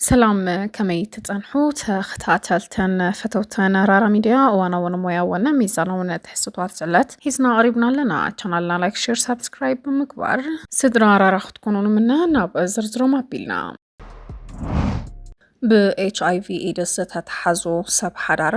ሰላም ከመይ ትጸንሑ ተኸታተልተን ፈተውተን ራራ ሚድያ እዋናውን ሞያውን ሚዛናውን ትሕዝቶታት ስዕለት ሒዝና ቀሪብና ኣለና። ቻናልና ላይክ፣ ሼር፣ ሳብስክራይብ ብምግባር ስድራ ራራ ክትኮኑ ንምነ ናብ ዝርዝሮም ኣቢልና ብኤችኣይቪ ኤድስ ዝተተሓዙ ሰብ ሓዳር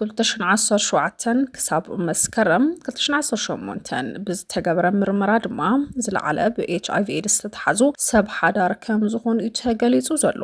ክልተ ሽሕን ዓሰርተ ሸውዓተን ክሳብ መስከረም ክልተ ሽሕን ዓሰርተ ሸሞንተን ብዝተገበረ ምርመራ ድማ ዝለዓለ ብኤችኣይቪ ኤድስ ዝተተሓዙ ሰብ ሓዳር ከም ዝኾኑ እዩ ተገሊጹ ዘሎ።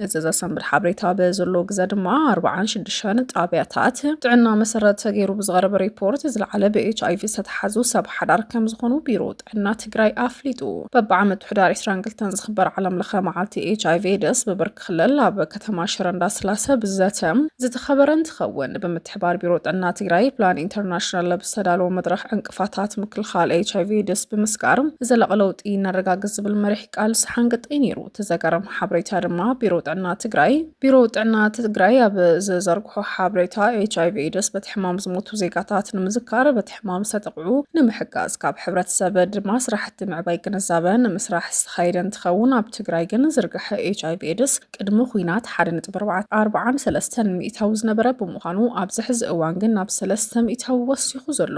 እዚ ዘሰንብድ ሓበሬታ በዘሎ ግዘ ድማ ኣርብዓን ሽዱሽተን ጣብያታት ጥዕና መሰረት ተገይሩ ብዝቐረበ ሪፖርት ዝለዓለ ብኤችኣይቪ ዝተተሓዙ ሰብ ሓዳር ከም ዝኾኑ ቢሮ ጥዕና ትግራይ ኣፍሊጡ። በብዓመቱ ሕዳር ዕስራን ክልተን ዝኽበር ዓለም ለኸ መዓልቲ ኤች ኣይቪ ኤድስ ብብርኪ ክልል ኣብ ከተማ ሽረ እንዳስላሰ ብዘተ ዝተኸበረ እንትኸውን ብምትሕባር ቢሮ ጥዕና ትግራይ ፕላን ኢንተርናሽናል ኣብ ዝተዳለወ መድረኽ ዕንቅፋታት ምክልኻል ኤች ኣይቪ ኤድስ ብምስጋር ዘላቒ ለውጢ ነረጋግፅ ዝብል መሪሕ ቃል ሰሓንግጠይ ነይሩ። እቲ ዘገርም ሓበሬታ ድማ ቢሮ ጥዕና ትግራይ ቢሮ ጥዕና ትግራይ ኣብ ዝዘርግሖ ሓበሬታ ኤች ኣይቪ ኤድስ በቲ ሕማም ዝሞቱ ዜጋታት ንምዝካር በቲ ሕማም ዝተጠቕዑ ንምሕጋዝ ካብ ሕብረተሰብ ድማ ስራሕቲ ምዕባይ ግንዛበ ንምስራሕ ዝተኻየደ እንትኸውን ኣብ ትግራይ ግን ዝርግሐ ኤች ኣይቪ ኤድስ ቅድሚ ኹናት ሓደ ነጥቢ ኣርብዓን ሰለስተን ሚእታዊ ዝነበረ ብምዃኑ ኣብዚ ሕዚ እዋን ግን ናብ ሰለስተ ሚእታዊ ወሲኹ ዘሎ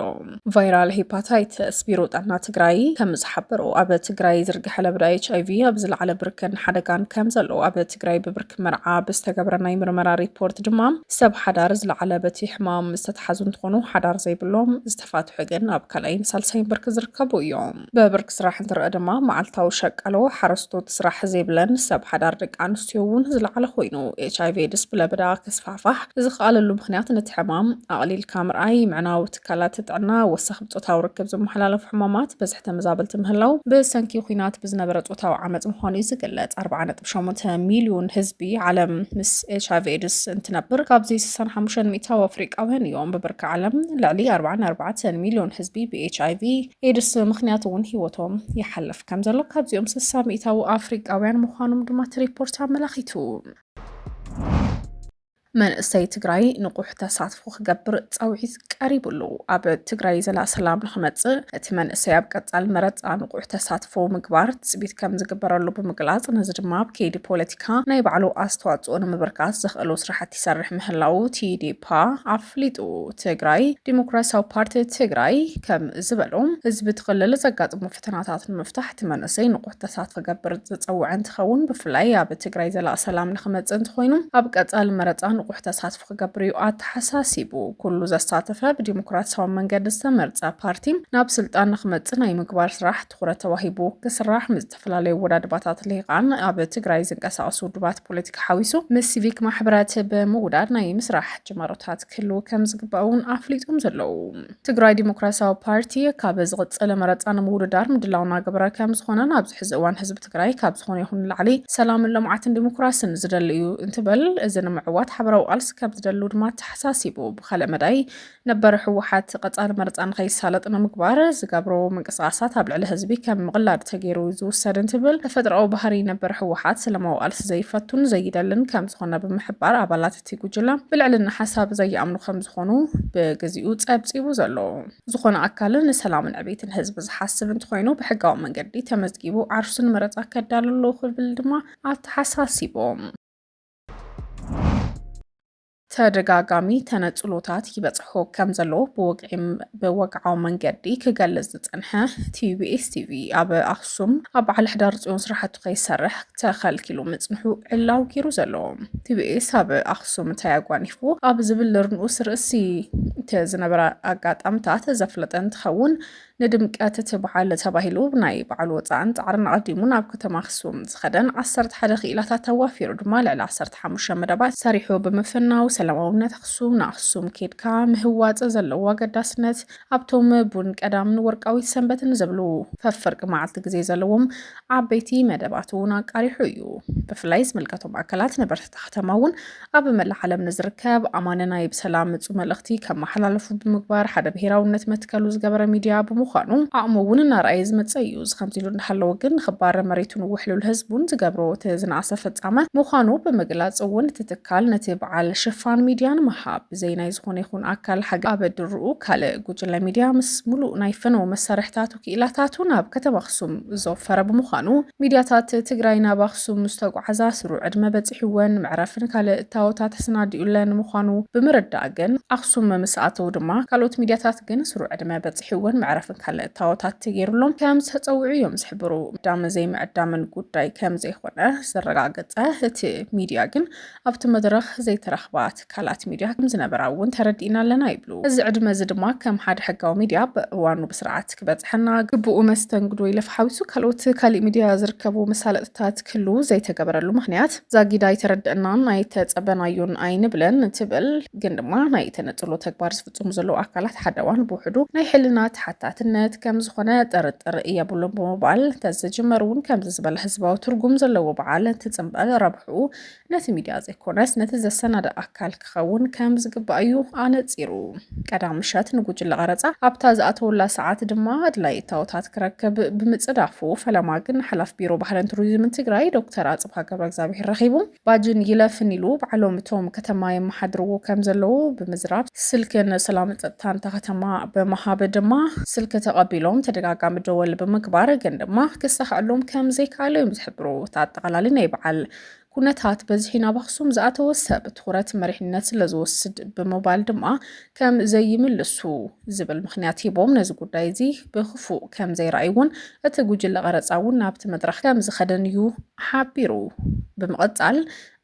ቫይራል ሄፓታይተስ ቢሮ ጥዕና ትግራይ ከምዝሓበሮ ኣብ ትግራይ ዝርግሐ ለበዳ ኤች ኣይቪ ኣብ ዝለዓለ ብርከን ሓደጋን ከምዘለዎ ኣብ ትግራይ ብብርኪ መርዓ ብዝተገብረ ናይ ምርመራ ሪፖርት ድማ ሰብ ሓዳር ዝለዓለ በቲ ሕማም ዝተትሓዙ እንትኾኑ ሓዳር ዘይብሎም ዝተፋትሑ ግን ኣብ ካልኣይን ሳልሳይን ብርኪ ዝርከቡ እዮም። ብብርኪ ስራሕ እንትረኣ ድማ መዓልታዊ ሸቃሎ፣ ሓረስቶት፣ ስራሕ ዘይብለን ሰብ ሓዳር ደቂ ኣንስትዮ እውን ዝለዓለ ኮይኑ ኤችኣይቪ ኤድስ ብለበዳ ክስፋሕፋሕ ዝኸኣለሉ ምኽንያት ነቲ ሕማም ኣቕሊልካ ምርኣይ፣ ምዕናው፣ ትካላት ጥዕና ወሰኽ ብፆታዊ ርክብ ዝመሓላለፉ ሕማማት በዝሒ ተመዛበልቲ ምህላው ብሰንኪ ኩናት ብዝነበረ ፆታዊ ዓመፅ ምዃኑ እዩ ዝግለፅ። 4.8 ሚሊዮን ህዝቢ ዓለም ምስ ኤች ኣይቪ ኤድስ እንትነብር ካብዚ 65 ሚእታዊ ኣፍሪቃውያን እዮም። ብብርኪ ዓለም ልዕሊ 44 ሚሊዮን ህዝቢ ብኤች ኣይቪ ኤድስ ምክንያት እውን ህይወቶም ይሓልፍ ከም ዘሎ ካብዚኦም 60 ሚእታዊ ኣፍሪቃውያን ምዃኖም ድማ እቲ ሪፖርት ኣመላኺቱ። መንእሰይ ትግራይ ንቑሕ ተሳትፎ ክገብር ፃውዒት ቀሪቡ ኣሎ። ኣብ ትግራይ ዘላ ሰላም ንክመፅእ እቲ መንእሰይ ኣብ ቀፃሊ መረፃ ንቑሕ ተሳትፎ ምግባር ትፅቢት ከም ዝግበረሉ ብምግላፅ ነዚ ድማ ኣብ ከይዲ ፖለቲካ ናይ ባዕሉ ኣስተዋፅኦ ንምብርካት ዘኽእሉ ስራሕቲ ይሰርሕ ምህላው ቲዴፓ ኣፍሊጡ። ትግራይ ዲሞክራሲያዊ ፓርቲ ትግራይ ከም ዝበሎ ህዝቢ እቲ ክልል ዘጋጥሞ ፈተናታት ንምፍታሕ እቲ መንእሰይ ንቑሕ ተሳትፎ ክገብር ዝፀውዐ እንትኸውን ብፍላይ ኣብ ትግራይ ዘላቂ ሰላም ንክመፅእ እንተኾይኑ ኣብ ቀፃሊ መረፃ ንቑሕ ተሳትፎ ክገብር እዩ ኣተሓሳሲቡ። ኩሉ ዘሳተፈ ብዲሞክራሲያዊ መንገዲ ዝተመርፀ ፓርቲ ናብ ስልጣን ንክመፅእ ናይ ምግባር ስራሕ ትኹረት ተዋሂቡ ክስራሕ ምስ ዝተፈላለዩ ወዳድባታት ልሂቃን ኣብ ትግራይ ዝንቀሳቀሱ ውድባት ፖለቲካ ሓዊሱ ምስ ሲቪክ ማሕበራት ብምውዳድ ናይ ምስራሕ ጅማሮታት ክህልው ከም ዝግባእ እውን ኣፍሊጦም ዘለዉ። ትግራይ ዲሞክራሲያዊ ፓርቲ ካብ ዝቕፅል መረፃ ንምውድዳር ምድላው እናገበረ ከም ዝኾነን ኣብዚ ሕዚ እዋን ህዝቢ ትግራይ ካብ ዝኾነ ይኹን ንላዕሊ ሰላምን ልምዓትን ዲሞክራስን ዝደሊ እዩ እንትበል እዚ ንምዕዋት ሓበራዊ ቃልሲ ከም ዝደሉ ድማ ተሓሳሲቡ። ብካልእ መዳይ ነበር ህወሓት ቀፃሊ መረፃ ንከይሳለጥ ንምግባር ዝገብሮ ምንቅስቃሳት ኣብ ልዕሊ ህዝቢ ከም ምቕላድ ተገይሩ ዝውሰድ እንትብል ተፈጥሮኣዊ ባህሪ ነበር ህወሓት ሰላማዊ ቃልሲ ዘይፈቱን ዘይደልን ከም ዝኾነ ብምሕባር ኣባላት እቲ ጉጅለ ብልዕልና ሓሳብ ዘይኣምኑ ከም ዝኾኑ ብግዚኡ ጸብጺቡ ዘሎ ዝኾነ ኣካልን ንሰላምን ዕቤትን ህዝቢ ዝሓስብ እንተኾይኑ ብሕጋዊ መንገዲ ተመዝጊቡ ዓርሱ ንመረጻ ከዳሉ ኣለዎ ክብል ድማ ኣተሓሳሲቦም። ተደጋጋሚ ተነጽሎታት ይበጽሖ ከም ዘሎ ብወግዒ ብወግዓዊ መንገዲ ክገልጽ ዝጸንሐ ቲቢኤስ ቲቪ ኣብ ኣክሱም ኣብ በዓል ሕዳር ፅዮን ስራሕቱ ከይሰርሕ ተኸልኪሉ ምፅንሑ ዕላዊ ገይሩ ዘሎ ቲቢኤስ ኣብ ኣክሱም እንታይ ኣጓኒፉ ኣብ ዝብል ርንኡስ ርእሲ እቲ ዝነበረ ኣጋጣምታት ዘፍለጠ እንትኸውን ንድምቀት እቲ በዓል ተባሂሉ ብናይ በዓል ወፃእን ፃዕርን ኣቐዲሙ ናብ ከተማ ኣክሱም ዝኸደን ዓሰርተ ሓደ ክኢላታት ኣዋፊሩ ድማ ልዕሊ ዓሰርተ ሓሙሽተ መደባት ሰሪሑ ብምፍናው ሰላማውነት ኣክሱም ንኣክሱም ኬድካ ምህዋፅ ዘለዎ ኣገዳስነት ኣብቶም ቡን ቀዳምን ወርቃዊት ሰንበትን ዝብሉ ፈፍርቂ መዓልቲ ግዜ ዘለዎም ዓበይቲ መደባት እውን ኣቃሪሑ እዩ። ብፍላይ ዝምልከቶም ኣካላት ነበርቲ ከተማ እውን ኣብ መላእ ዓለም ንዝርከብ ኣማኒ ናይ ብሰላም ምጹ መልእኽቲ ከመሓላለፉ ብምግባር ሓደ ብሄራውነት መትከሉ ዝገበረ ሚድያ ብምዃኑ ዓቕሙ እውን እናርኣየ ዝመጸ እዩ። እዚ ከምዚ ኢሉ እንዳሃለወ ግን ንኽባረ መሬቱን ውሕሉል ህዝቡን ዝገብሮ እቲ ዝነኣሰ ፍጻመ ምዃኑ ብምግላጽ እውን እቲ ትካል ነቲ በዓል ሽፋን ሚድያ ንምሃብ ብዘይ ናይ ዝኾነ ይኹን ኣካል ሓገ ኣብ ድርኡ ካልእ ጉጅለ ሚድያ ምስ ሙሉእ ናይ ፈነወ መሳርሕታቱ ክኢላታቱ ናብ ከተማ ኣኽሱም ዘወፈረ ብምዃኑ ሚድያታት ትግራይ ናብ ኣኽሱም ምስ ተጓዓዛ ስሩዕ ዕድመ በፂሕወን መዕረፍን ካልእ እታወታት ተሰናዲኡለን ምዃኑ ብምርዳእ ግን ኣኽሱም ምስ ኣተው ድማ ካልኦት ሚድያታት ግን ስሩዕ ዕድመ በፂሕወን መዕረፍን ካልእ እታወታት ተገይሩሎም ከም ዝተፀውዑ እዮም ዝሕብሩ። ምዕዳምን ዘይምዕዳምን ጉዳይ ከም ዘይኾነ ዘረጋገፀ እቲ ሚድያ ግን ኣብቲ መድረኽ ዘይተረኽባ ትካላት ሚድያ ከምዝነበራ እውን ተረዲእና ኣለና ይብሉ። እዚ ዕድመ እዚ ድማ ከም ሓደ ሕጋዊ ሚድያ ብእዋኑ ብስርዓት ክበፅሐና፣ ግቡኡ መስተንግዶ ኢለፍ ሓዊሱ ካልኦት ካሊእ ሚድያ ዝርከቡ መሳለጥታት ክህልው ዘይተገበረሉ ምኽንያት ዛጊድ ኣይተረደእናን ኣይተፀበናዮን ኣይንብልን ትብል። ግን ድማ ናይ ተነፅሎ ተግባር ዝፍፅሙ ዘለው ኣካላት ሓደዋን ብውሕዱ ናይ ሕልና ተሓታትነት ከምዝኾነ ጥርጥር የብሉን ብምባል እንተዝጅመር እውን ከምዚ ዝበለ ህዝባዊ ትርጉም ዘለዎ በዓል እንትፅምበል ረብሕኡ ነቲ ሚድያ ዘይኮነስ ነቲ ዘሰናድእ ኣካል ክኸውን ከም ዝግባእ እዩ ኣነጺሩ። ቀዳም ምሸት ንጉጅለ ቐረጻ ኣብታ ዝኣተወላ ሰዓት ድማ ኣድላይ እታወታት ክረክብ ብምጽዳፉ ፈለማ ግን ሓላፍ ቢሮ ባህልን ቱሪዝምን ትግራይ ዶክተር ኣጽብሃ ገብረ እግዚኣብሔር ረኺቡ ባጅን ይለፍን ኢሉ ባዕሎም እቶም ከተማ የመሓድርዎ ከም ዘለዉ ብምዝራብ ስልኪ ንሰላምን ጸጥታን እታ ከተማ ብምሃብ ድማ ስልኪ ተቐቢሎም ተደጋጋሚ ደወል ብምግባር ግን ድማ ክሳኸዐሎም ከም ዘይከኣለ እዮም ዝገብሩ እቲ ኣጠቓላሊ ናይ በዓል ኩነታት በዝሒ ናብ ኣኽሱም ዝኣተወ ሰብ ትኹረት መሪሕነት ስለ ዝወስድ ብምባል ድማ ከም ዘይምልሱ ዝብል ምክንያት ሂቦም ነዚ ጉዳይ እዚ ብክፉእ ከም ዘይረኣይዎን እቲ ጉጅለ ቀረፃ እውን ናብቲ መድረኽ ከም ዝኸደን እዩ ሓቢሩ። ብምቕፃል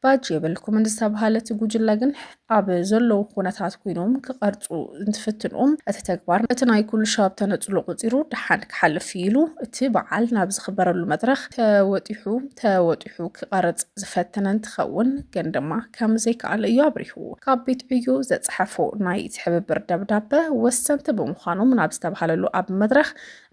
ባጅ የብልኩምን ዝተብሃለ እቲ ጉጅለ ግን ኣብ ዘለዉ ኩነታት ኮይኖም ክቐርፁ እንትፍትኑ እቲ ተግባር እቲ ናይ ኩሉ ሻብ ተነፅሎ ቁፂሩ ደሓን ክሓልፍ እዩ ኢሉ እቲ በዓል ናብ ዝኽበረሉ መድረኽ ተወጢሑ ተወጢሑ ክቐርፅ ዝፈተነ እንትኸውን ግን ድማ ከምዘይከኣለ እዩ ኣብሪሁ። ካብ ቤት ዕዮ ዘፀሐፎ ናይ ትሕብብር ደብዳበ ወሰንቲ ብምዃኖም ናብ ዝተብሃለሉ ኣብ መድረኽ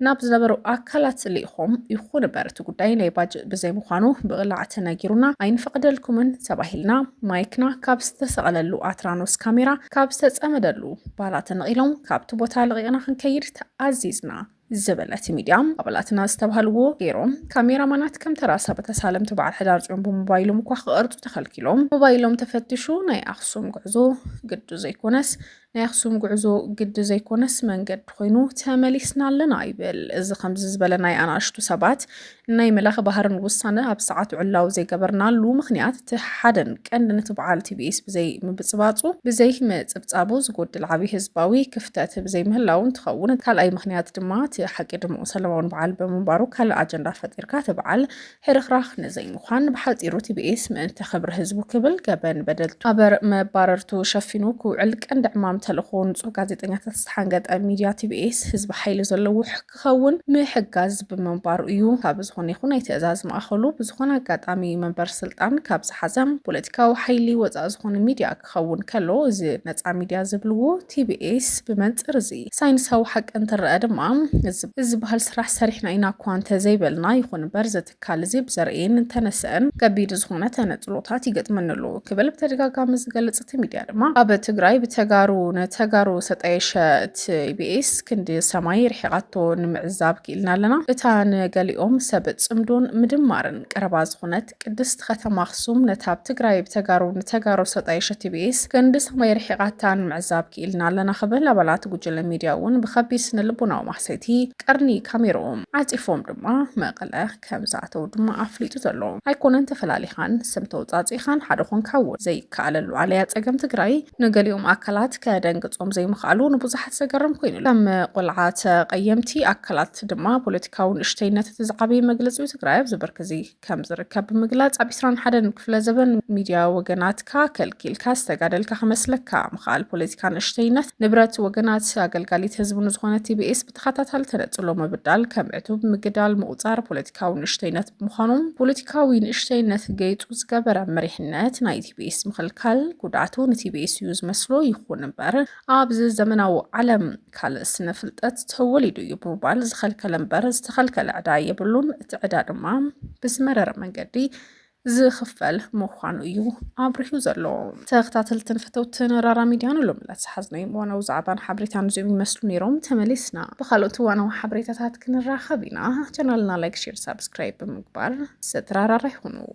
ናብ ዝነበሩ ኣካላት ልኢኾም ይኹን እምበር እቲ ጉዳይ ናይ ባጅእ ብዘይምዃኑ ብቕላዕ ተነጊሩና ኣይንፈቕደልኩምን ተባሂልና ማይክና ካብ ዝተሰቐለሉ ኣትራኖስ ካሜራ ካብ ዝተፀመደሉ ባላ ተነቒሎም ካብቲ ቦታ ለቒቕና ክንከይድ ተኣዚዝና ዝብል እቲ ሚድያ ኣባላትና ዝተባሃልዎ ገይሮም ካሜራማናት ከም ተራ ሰብ ተሳለምቲ በዓል ሕዳር ፅዮን ብሞባይሎም እኳ ክቐርፁ ተኸልኪሎም ሞባይሎም ተፈትሹ ናይ ኣኽሱም ጉዕዞ ግዱ ዘይኮነስ ናይ ኣክሱም ጉዕዞ ግዲ ዘይኮነስ መንገዲ ኮይኑ ተመሊስና ኣለና ይብል። እዚ ከምዚ ዝበለ ናይ ኣናእሽቱ ሰባት ናይ መላኽ ባህርን ውሳነ ኣብ ሰዓቱ ዕላዊ ዘይገበርናሉ ምክንያት እቲ ሓደን ቀንዲ ነቲ በዓል ቲቢኤስ ብዘይ ምብፅባፁ ብዘይ ምፅብፃቡ ዝጎድል ዓብዪ ህዝባዊ ክፍተት ብዘይ ምህላው እንትኸውን ካልኣይ ምክንያት ድማ እቲ ሓቂ ድምዑ ሰለማውን በዓል ብምንባሩ ካልእ ኣጀንዳ ፈጢርካ እቲ በዓል ህርኽራኽ ንዘይምዃን ብሓጺሩ ቲቢኤስ ምእንቲ ክብሪ ህዝቡ ክብል ገበን በደልቱ ኣበር መባረርቱ ሸፊኑ ክውዕል ቀንዲ ዕማም ተልእኾ ንጹህ ጋዜጠኛታት ዝተሓንገጠ ሚድያ ቲቢኤስ ህዝቢ ሓይሊ ዘለዎ ክኸውን ምሕጋዝ ብምንባሩ እዩ። ካብ ዝኾነ ይኹን ናይ ትእዛዝ ማእኸሉ ብዝኾነ ኣጋጣሚ መንበር ስልጣን ካብ ዝሓዘ ፖለቲካዊ ሓይሊ ወፃእ ዝኾነ ሚድያ ክኸውን ከሎ እዚ ነጻ ሚድያ ዝብልዎ ቲቢኤስ ብመንጽር እዚ ሳይንሳዊ ሓቂ እንትረኣ ድማ እዚ ዝበሃል ስራሕ ሰሪሕና ኢና እኳ እንተዘይበልና ይኹን እምበር እዚ ትካል እዚ ብዘርእየን እንተነሰአን ከቢድ ዝኾነ ተነጽሎታት ይገጥመኒ ኣሎ ክብል ብተደጋጋሚ ዝገልጽ እቲ ሚድያ ድማ ኣብ ትግራይ ብተጋሩ ንተጋሩ ዝተጣየሸ ቲቢኤስ ክንዲ ሰማይ ርሒቓቶ ንምዕዛብ ክኢልና ኣለና እታ ንገሊኦም ሰብ ጽምዶን ምድማርን ቀረባ ዝኾነት ቅድስቲ ከተማ ኣኽሱም ነታ ኣብ ትግራይ ብተጋሩ ንተጋሩ ዝተጣየሸት ቲቢኤስ ክንዲ ሰማይ ርሒቓታ ንምዕዛብ ክኢልና ኣለና ክብል ኣባላት ጉጅለ ሚድያ እውን ብኸቢድ ስነልቦናዊ ማህሰይቲ ቀርኒ ካሜርኦም ዓፂፎም ድማ መቐለ ከም ዝኣተው ድማ ኣፍሊጡ ዘሎ ኣይኮነን ተፈላሊኻን ስም ተውፃእፂእኻን ሓደ ኾንካ እውን ዘይከኣለሉ ኣለያ ፀገም ትግራይ ንገሊኦም ኣካላት ከደንግፆም ዘይምኽኣሉ ንብዙሓት ዘገርም ኮይኑ ከም ቆልዓ ተቐየምቲ ኣካላት ድማ ፖለቲካዊ ንእሽተይነት እቲ ዝዓበየ መግለፂኡ ትግራይ ኣብዚ ብርኪ እዙይ ከም ዝርከብ ብምግላጽ ኣብ ዕስራን ሓደን ክፍለ ዘበን ሚድያ ወገናትካ ከልኪልካ ዝተጋደልካ ክመስለካ ምኽኣል ፖለቲካ ንእሽተይነት ንብረት ወገናት ኣገልጋሊት ህዝቢ ንዝኾነ ቲቢኤስ ብተኸታታሊ ተነጽሎ ምብዳል ከም ዕቱብ ምግዳል ምቑጻር ፖለቲካዊ ንእሽተይነት ብምዃኑ ፖለቲካዊ ንእሽተይነት ገይጹ ዝገበረ መሪሕነት ናይ ቲቢኤስ ምኽልካል ጉድኣቱ ንቲቢኤስ እዩ ዝመስሎ ይኹን እምበር ኣብዚ ዘመናዊ ዓለም ካልእ ስነ ፍልጠት ተወሊዱ እዩ ብምባል ዝኸልከለ እምበር ዝተኸልከለ ዕዳ የብሉን። እቲ ዕዳ ድማ ብዝመረረ መንገዲ ዝኽፈል ምዃኑ እዩ ኣብሪሁ ዘሎ ተኸታተልትን ፈተውትን ራራ ሚድያ ንሎ ምለት ዝሓዝነይ ዋናው ዛዕባን ሓበሬታን እዚኦም ይመስሉ ነይሮም ተመሊስና ብካልኦት ዋናዊ ሓበሬታታት ክንራኸብ ኢና ቻናልና ላይክ ሼር ሳብስክራይብ ብምግባር ሰትራራራ ይኹኑ